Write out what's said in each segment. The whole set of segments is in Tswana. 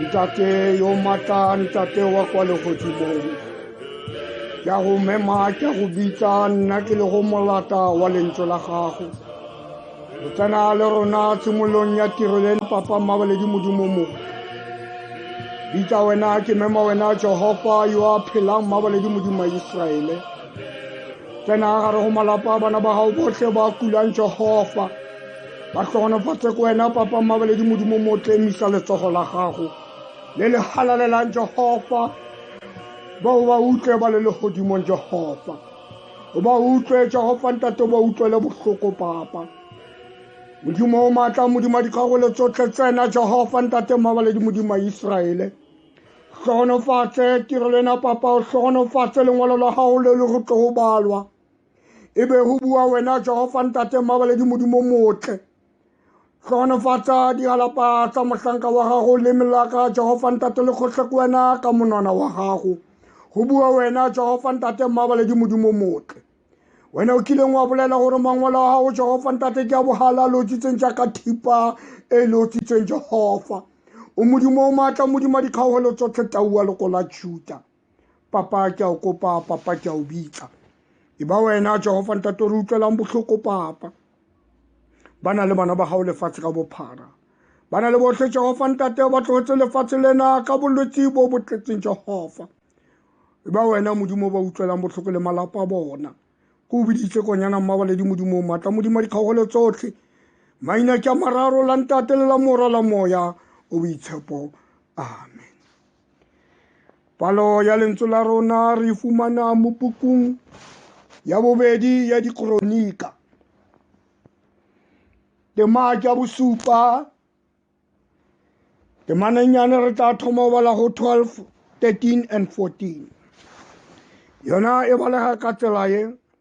ntate yo matla ntate wa kwa legodimong ke a go mema ke a go bitsa nna ke le go molata wa lentswe la gago o tsena le rona tshimolong ya tiro le papa mmabaledi modimo mongwe bitsa wena ke mema wena jehova yo a phelang mmabaledi modimo wa iseraele tsena gare go malapa bana ba gago botlhe ba kulang jehova ba tlhogonofatse ko wena papa mmabaledi modimo mo tlemisa letsogo la gago le le halalelang jehova ba o ba utlwe ba le legodimong jehova o ba utlwe jehova ntate o ba utlwele botlhoko papa modimo o maatla modimo dikgagolo tsotlhe tsena jehova ntate mmabaledi modimo iseraele tlhogonofatse tirelo ena papa o tlhogonofatse lengwalo la gago le le go tlo go balwa e be go bua wena jehofa ntate mmabaledi modimo motle tlhogonofatsa digalapa tsa mohlanka wa gago le melaka jehofa ntate le kgotlhe ko wena ka monwana wa gago go bua wena jehofa ntate mmabaledi modimo motle wena o kileng wa bolela gore mangwalo a gago jehofa ntate ke a bogala a lotsitseng jaaka thipa e e lotsitseng jehofa o modimo o maatla modimo dikgaogelo tsotlhe taua loko la juta papa ke a o kopa papa ke a o bitsa e ba wena jehova ntate re utlwelang botlhoko papa ba na le bana ba gago lefatshe ka bophara ba na le botlhe jehova ntate ba tlogetse lefatshe lena ka bolwetse bo bo tletseng jehova e ba wena modimo ba utlwelang botlhoko le malapa bona ko o biditse konyana mmabaledi modimong maatla modimo dikgaogelo tsotlhe maina ke a mararo la ntate le la mora la moya o boitshepo amen Palo ya lentswe la rona re fumana mo pukung ya bobedi ya dikronika tema ya bosupa temanennyane re tla thoma bala go 12 13 and 14 yona e balega ka tsela e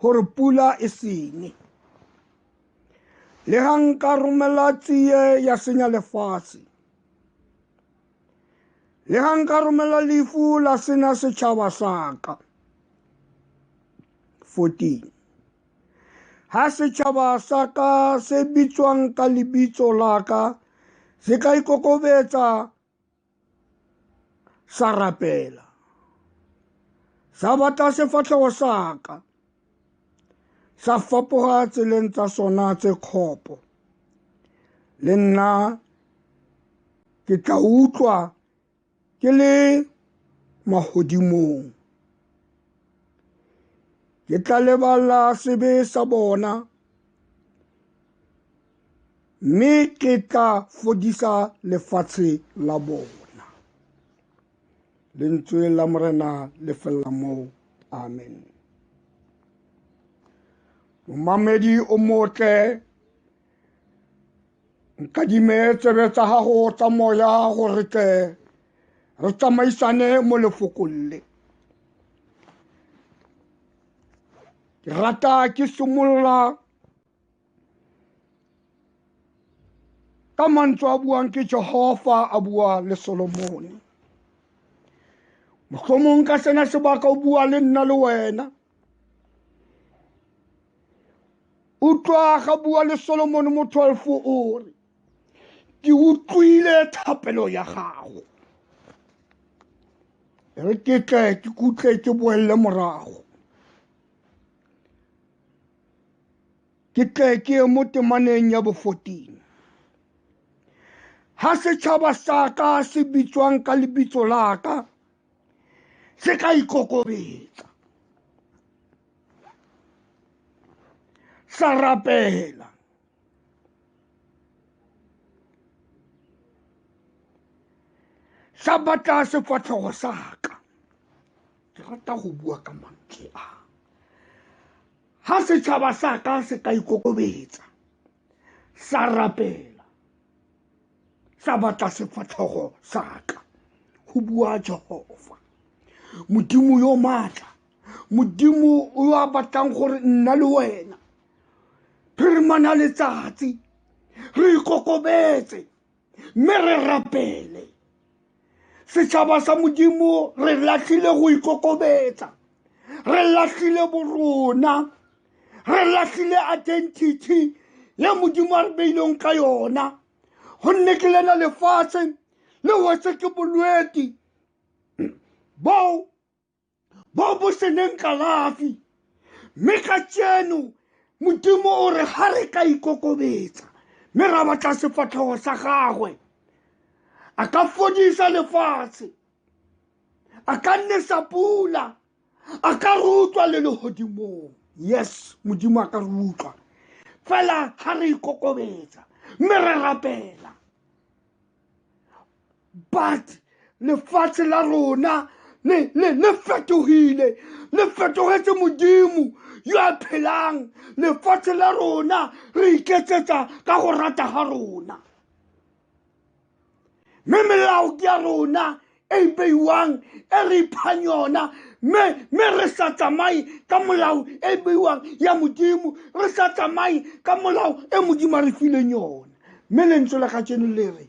gore pula e sene le ga nka romela tsie ya senya lefatshe le ga nka romela lefu la sena setšhaba saka 14 ha setšhaba sa ka se bitswang ka lebitso la ka se ka ikokobetsa sa rapela sa batla sefatlhego sa ka sa fapoga tseleng tsa sona tse kgopo le nna ke tla utlwa ke le magodimong ke tla lebala sebe sa bona mme ke tla fodisa lefatshe la bona lentswe la morena le felela moo amen momamedi o motle nkadime tsebe tsa gago tsa moya gore tle re tsamaisane mo lefokolle ke rata ke simolola ka mantswe a buang ke jehova a bua le solomone mohlomong ka sena sebaka o bua le nna le wena utlwa ga bua le solomone mo 12 o re ke utlwile thapelo ya gago re ke tle ke kutle ke boelele morago ke tle ke ye mo temaneng ya bo 14 ha setšhaba sa ka se bitswang ka lebitso la ka se ka ikokobetsa sa rapela sa batla sefatlhogo sa ka ke rata go bua ka mantle a ga setšhaba sa ka se ka ikokobetsa sa rapela sa batla sefatlhogo sa ka go bua jehova modimo yo maatla modimo yo a batlang gore nna le wena phirmana letsatsi re ikokobetse mme re rapele setšhaba sa modimo re latlhile go ikokobetsa re latlhile borona re latlhile identity ye modimo a re beileng ka yona gonne ke lena lefatshe le wetse ke bolweti bao bo bo seneng kalafi mme ka tseno modimo o re ga re ka ikokobetsa mme ra batla sefatlhego sa gagwe a ka fodisa lefatshe a ka nnesa pula a ka re utlwa le legodimong yes modimo a ka re utlwa fela ga re ikokobetsa mme re rapela but lefatshe la rona le le le fetohile le fetohetse modimo yo a phelang lefatshe la rona re iketsetsa ka go rata ga rona mme melao ke ya rona e e beiwang e re iphang yona mme re sa tsamaye ka molao e e beiwang ya modimo re sa tsamaye ka molao e modimo a re fileng yona mme lentswe la kajeno le re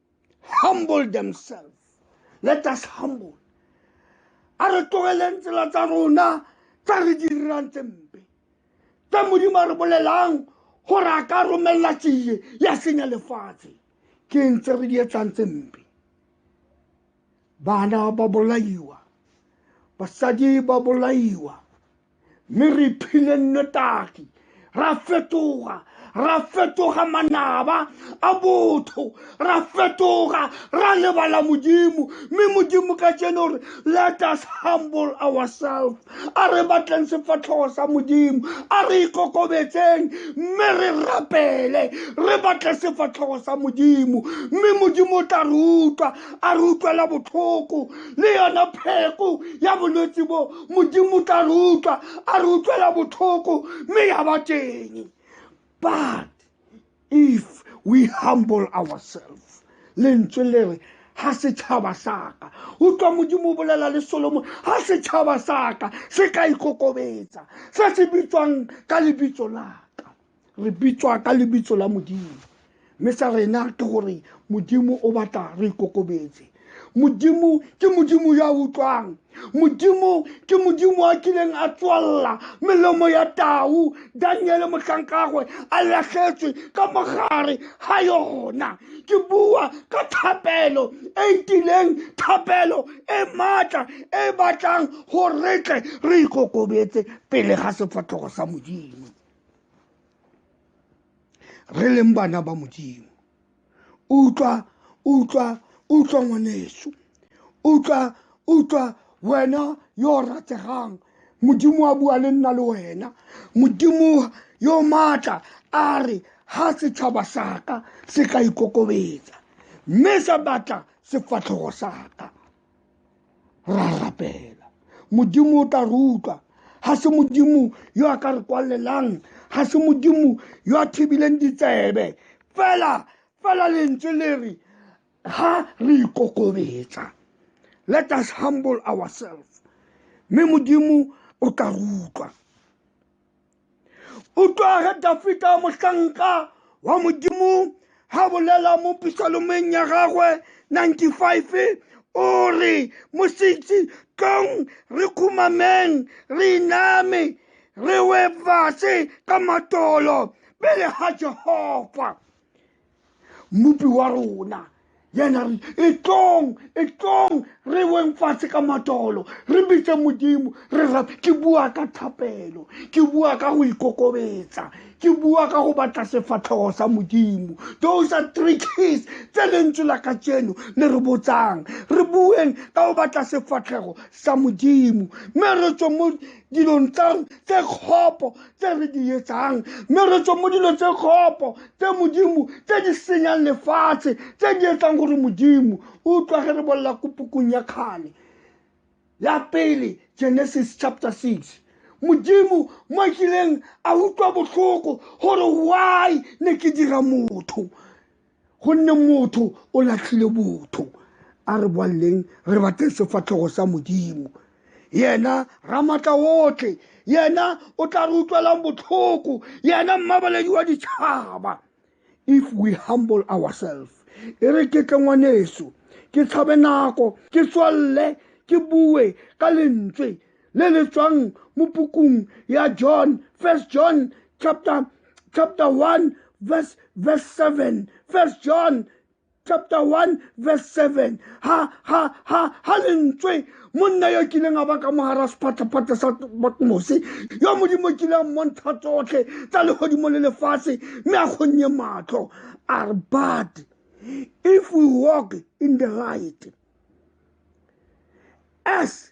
humble themselves let us humble a re tlogeleng tsela tsa rona tsa re di dirang tse mpe tse modimo a re bolelang gore a ka romelela tsie ya senya lefatshe ke eng tse re di etsang tse mpe bana ba bolaiwa basadi ba bolaiwa mme re iphile nnotagi ra fetoga ra fetoga manaba a botho ra fetoga ra lebala modimo mme modimo ka tseno re let us humble ourselves a re batleng sefatlhogo sa modimo a re ikokobetseng mme re rapele re batle sefatlhogo sa modimo mme modimo o tla re utlwa a re utlwela botlhoko le yone pheko ya bolwetse bo modimo o tla re utlwa a re utlwela botlhoko mme ya ba teng but if we humble ourselves lentswe le re ha setšhaba saka utlwa modimo o bolela le solomon ha setšhaba saka se ka ikokobetsa se se bitswang ka lebitso laka re bitswa ka lebitso la modimo mme sa rena ke gore modimo o batla re ikokobetse modimo ke modimo ya utlwang modimo ke modimo a kileng a tswalela melomo ya tau daniele motlhankagwe a latlhetswe ka mogare ga yona ke bua ka thapelo e ntileng thapelo e maatla e batlang go retle re ikokobetse pele ga sefatlhogo sa modimo re leng bana ba modimo utlwa utlwa utlwa ngwaneso utlwa utlwa wena yo o rategang modimo a bua le nna le wena modimo yo maatla a re ha setšhaba saka se ka ikokobetsa mme sa batla sefatlhogo saka ra rapela modimo o tla re utlwa ga se modimo yo a ka re kwalelang ga se modimo yo a thibileng ditsebe fela fela lentswe le re ga re ikokobetsa let us humble ourselves mme modimo o tla re utlwa utlwa ge dafita mohlanka wa modimo ga bolela mo pisalomeng ya gagwe 95 o re mositsi tlong re khumameng re iname re we fase ka matolo pele ga jehova mmopi wa rona yena re e tlong e tlong re weng fatshe ka matolo re bitse modimo re ra ke bua ka thapelo ke bua ka go ikokobetsa ke bua ka go batla sefatlhogo sa modimo those are three keys tse lentswe la ka tseno le re botsang re bueng ka go batla sefatlhego sa modimo mme re tswe mo dilong tsa tse kgopo tse re di etsang mme re tswe mo dilong tse kgopo tse modimo tse di senyang lefatshe tse di etsang gore modimo o utlwa ge re bolela ko pukung ya kgale ya pele genesis chapter 6 modimo mo a kileng a utlwa botlhoko gore why ne ke dira motho gonne motho o latlhile botho a re boaleleng re batle sefatlhogo sa modimo yena ramatla otlhe yena o tla re utlwelang botlhoko yena mmabaledi wa ditšhaba if we humble ourselves e re ke tle ngwaneso ke tshabe nako ke tswalele ke bue ka lentswe le le tswang mo pukung ya john first john chapter chapter 1 verse verse 7 first john chapter 1 verse 7 ha ha ha ha lentswe monna yo kileng a ba ka mogara sephatlhaphate sa batmose yo modimo kile a mmontsha tsotlhe tsa legodimo le lefatshe mme a kgonnye matlho a re but if we walk in the light as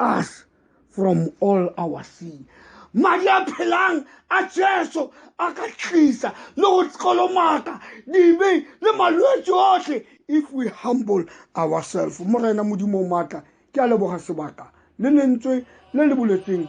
us from all our sin madi a phelang a jesu a ka tlisa le go kolomaka dibe le malwetse otlhe if we humble ourselves morena modimo maatla ke a leboga sebaka le lentswe le le boletseng